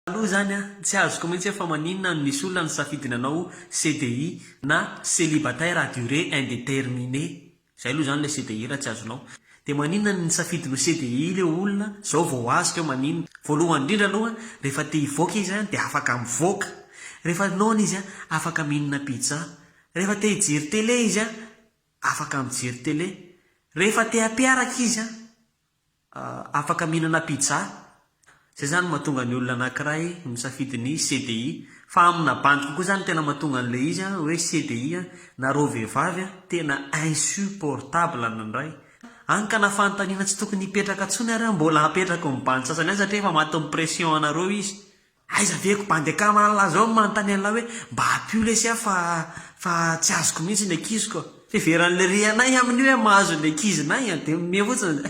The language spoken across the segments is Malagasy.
Aloha izany an, tsy azoko mihitsy fa maninona no misy olona nisafidy nanao CDI na celibataire à durée indeterminée, izay aloha izany ilay CDI raha tsy azonao. Dia maninona no nisafidy no CDI ilay olona, izao vao azo keo maninona. Voalohany indrindra aloha an, rehefa te hivoaka izy an dia afaka mivoaka. Rehefa noana izy an, afaka mihinana pizza. Rehefa te hijery télé izy an, afaka mijery télé. Rehefa te hampiaraka izy an, afaka mihinana pizza, izay izany mahatonga ny olona anakiray misafidy ny CDI, fa amina bandy kokoa izany tena mahatonga an'ilay izy hoe CDI na reo vehivavy tena insupportable ny indray, hany ka na fanontaniana tsy tokony hipetraka intsony ary mbola apetrako ny bandy sasany ihany satria efa matin'ny pression anareo izy. Aiza ve ko bandy akama anla izao no manontany anla hoe mba apio lesy aho fa fa tsy azoko mihitsy ny ankiziko a. Fiheveran'ny ry anay amin'io hoe mahazo ny ankizinay a, dia minia fotsiny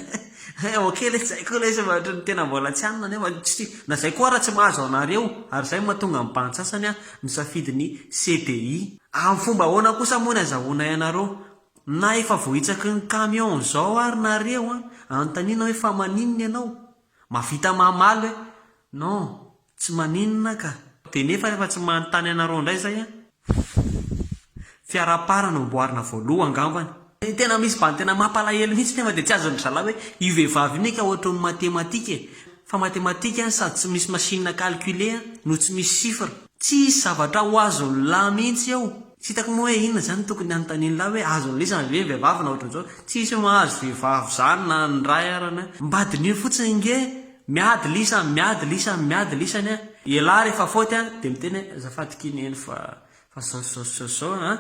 hoe ok lesy zay koa lesy fa ohatry ny tena mbola tsy hanina nefa tsy na zay koa ara tsy mahazo anareo ary zay mahatonga ny bandy sasany a misafidy ny CDI. Amin'ny fomba ahoana kosa moa ny azahoanay anareo na efa voahitsaky ny camion zao ary nareo a, anontaniana hoe fa maninona ianao Mavita mamaly hoe non, tsy maninona ka. Dia nefa efa tsy manontany anareo indray izay an! Fff, fiaraha-para no amboarina voaloha angambany. Ny tena misy bany tena mampalahelo mihitsy nefa dia tsy azon dry zalahy hoe io vehivavy io ne ka ohatry ny matematika e! Fa matematika an sady tsy misy machine à calculer an no tsy misy chiffre. Tsisy zavatra ho azon'ny lahy mihitsy eo. Tsy hitako moa hoe inona zany tokony hanontanian'lah hoe azony lisany ve ny vehivavy na ohatran'izao, tsisy mahazo vehivavy zany na ny ray arany a. Mba diniho fotsiny ange, miady lisany, miady lisany, miady lisany a. Ialahy rehefa faute a dia miteny hoe azafady ky neny fa fa zao sy zao sy zao sy zao a,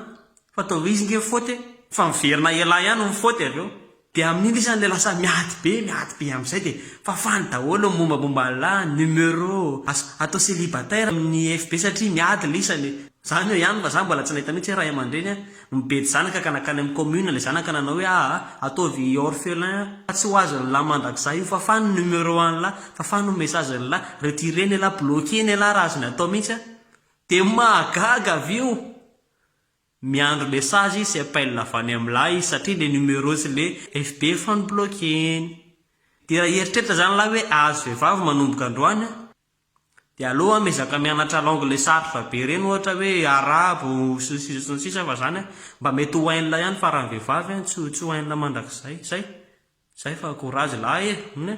fa toa izy nge faute fa miverina ialahy ihany no faute avy eo. Dia amin'iny sisa ilay lasa miady be, miady be amin'izay dia fafany daholo ny mombamomba an'lah numéro azo atao célibataire amin'ny FB satria miady ilay isany e! Zany eo ihany fa za mbola tsy nahita mihitsy hoe ray aman-dreny an, nibedy zanaka ka nankany amin'ny commune ilay zanaka nanao hoe aa ataovy orphelin fa tsy ho azon'lah mandrakizay io, fafany ny numéro an'lah, fafany ny message an'lah, retireny elah, bloquer-ny elah raha azony atao mihitsy an! Dia mahagaga avy eo! Miandry message sy appel avy any am lahy izy satria le numéro sy le FB efa nobloqueny. Dia raha hieritreritra zany lahy hoe ahazo vehivavy manomboka androany an! Dia aleo an miezaka mianatra langue le sarotra be reny ohatra hoe arabo sy ny sisa sy ny sisa fa zany an mba mety ho hain'la ihany fa raha vehivavy an tsy tsy ho hain'la mandrakizay. Zay. Zay fa courage lahy e! Humm e!